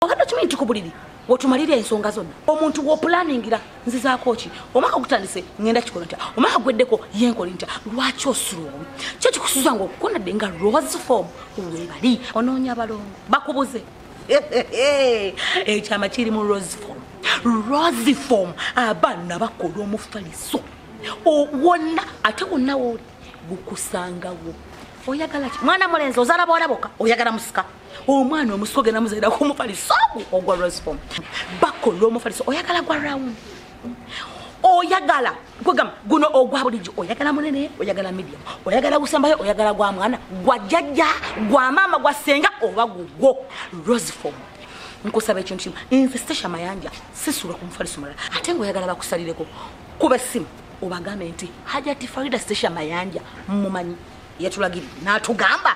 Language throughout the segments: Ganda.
obadde okimanyi nti ku buliri wotumalira ensonga zonna omuntu wopulaningira nzizaako ki omwaka ogutandise ngenda kikola ntya omwaka gweddeko yenkoli ntya lwaki osulowe kyo kikusuza nga okukonadde nga rose form webali onoonya abalongo bakubuze ekyama kiri mu rose form rose form abaana bakola omufaliso wonna ate wonna wooli gukusangawo oyagala ki mwana mulenzi ozala bolaboka oyagala musika omwana omusi ogenda muzaira kumufaliso ogwo ogwa rosfom bako lwomufaliso oyagala gwa round oyagala kwegamba guno ogwa bulijjo oyagala munene oyagala medium oyagala gusembayo oyagala gwa mwana gwa jjajja gwa maama gwa senga oba gugwo rosfom nkusaba ekintu kimu nze sesha mayanja sisula ku mufaliso mulala ate nga oyagala bakusalireko kuba essimu obagambe nti hajati farida sesha mayanja mumanyi yatulagiri natugamba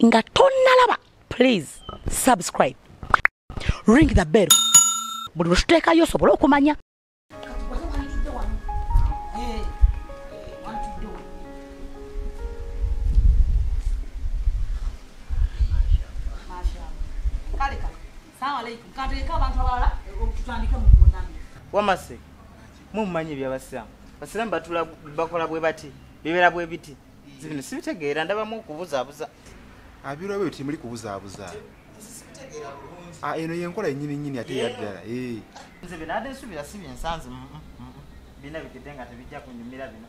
nga tonnalaba please subscribe ring the bell buli lwetuteekayo osobole okumanya wamase mwe mumanyi ebyabasiramu basiramu batula bakola bwe bati bibera bwe biti zibino sibitegeera ndabamu okubuzaabuza abiro byo temuli kubuzaabuza ah, eno yenkola yenyini nyini ate yaddala eh. nze binade nsubira si byensanze mm, mm, mm, bina bigede nga tebijja kunyumira bino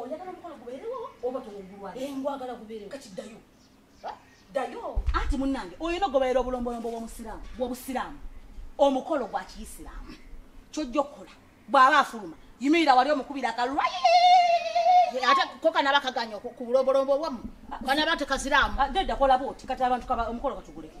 oyagala omukolo gubeerewo oba towugulwa engwagala gubeerewo kati ddayo ddayo anti munnange olina okugoberera obulombolombo bwomusiraamu bwobusiraamu omukolo gwa kiyisiraamu kyojja okukola bw'aba afuluma yimirira wali omukubira akalwayi ate kokanaba kaganya ku bulombolombo bwamu kanaba tekaziraamu ah, gedda kola booti kati abantu omukolo katuguleke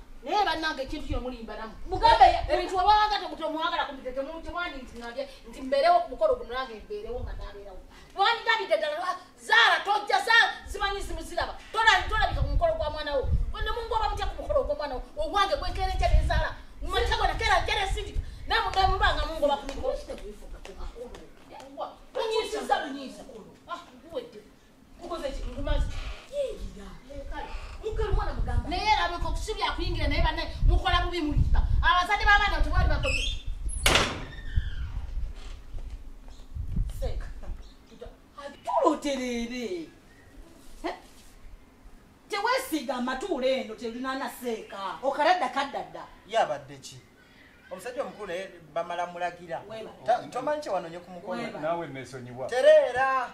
naye banange ekintu kino mulimbanamu mugambe ebintu wabawanga temutemwagala kumitetemwandi nti nabye nti mbeerewo ku mukolo guno nange mbeerewo nga nabeerawo wanditandidde ddala ah, zaala tojja zaala zimanyi zimuziraba tolabika ku mukolo gwa mwana wo nemungoba mutya ku mukolo gwa mwana wo ogwange gwekereja nezaala mumatego nakera jere sidi namudamubanga mungoba ku mikolo naye erabika okusibya kuyingira naye bane mukola bubi muliba abazadde babaana tebali bako tuloterere tewesiga amatuula eno telinana seeka okaradda kaddadda yabadde ki omusajja omukulu naye bamala mulagira tomanyi kyewanonye ku mukono nawe nesonyiwa tereera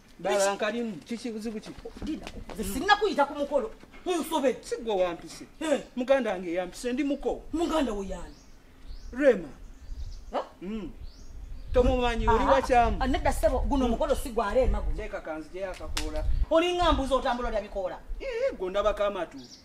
Dala nkalimu kiki buzibu ki? Dida. Sinna kuyita ku mukolo. Unsobe. Sigwa wampise. Eh. Muganda wange yampise ndi muko. Muganda wo yani. Rema. Ha? Mm. Tomumanyi oli wachamu. Anada sebo guno mm. mukolo sigwa Rema guno. Teka kanzi je akakola. Oli ngambuzo otambula lya bikola. Eh, gonda bakama tu.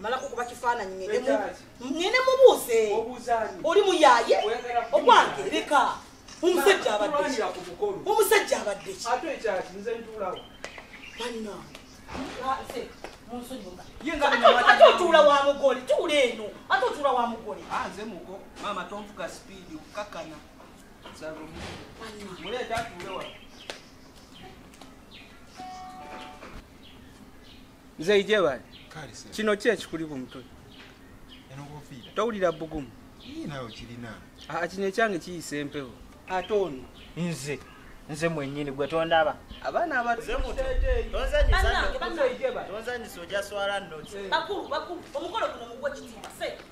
malako kuba kifaananyi ngende mubuuze oli muyaye ogwange leka omusajja abadde omusajja abadde ate otuula wa mugole tuula eno ate otuula wa mugole ah, nze muko maama tonfuka sipiidi okukakana muleeta atuulewa nze ijebale kino ki ekikuli ku mutwe towulira bugumu ah, kino ekyange kiyisa empewo ate ono nze nze mwenyini gwe tondaba abaana abatonzanyisa ojaswala nokulu omukolo guno mugwe kitiibwa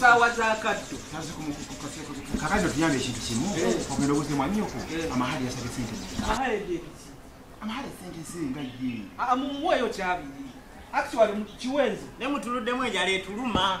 saawa zakaddo kakati otuyamba ekintu kimu ogenda obuze mwanyoko amahali yasabye sente amahali sente zinga ye mumuweeyo kyabiri actually kiwenzi ne mutuluddemu ejala etuluma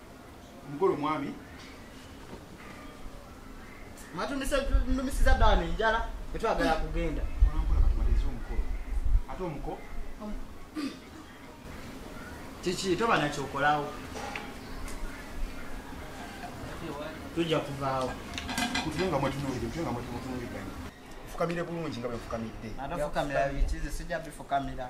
mukulu mwami matumisiza dani njala etwagala kugenda ate omuko kiki toba nakyokolawo tujja kuvaawo kutunga mwetunulire kutunga mwetunulire fukamire bulungi nga bwefukamidde ate fukamira bikizi sijja bifukamira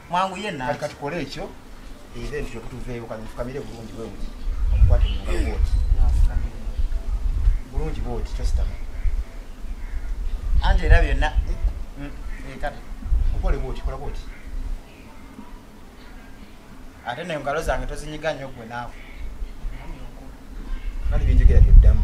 mwangu ye na kati kole ekyo era ekyo kutuveeyo kati mufukamire bulungi bwe buti omukwate mu ngalo bwoti bulungi bwoti tositama ante era byonna eh, mm, eh, kati okole bwoti kola bwoti ate nayo ngalo zange tozinyiga nnyo gwe naawe kali byenjogera byoddamu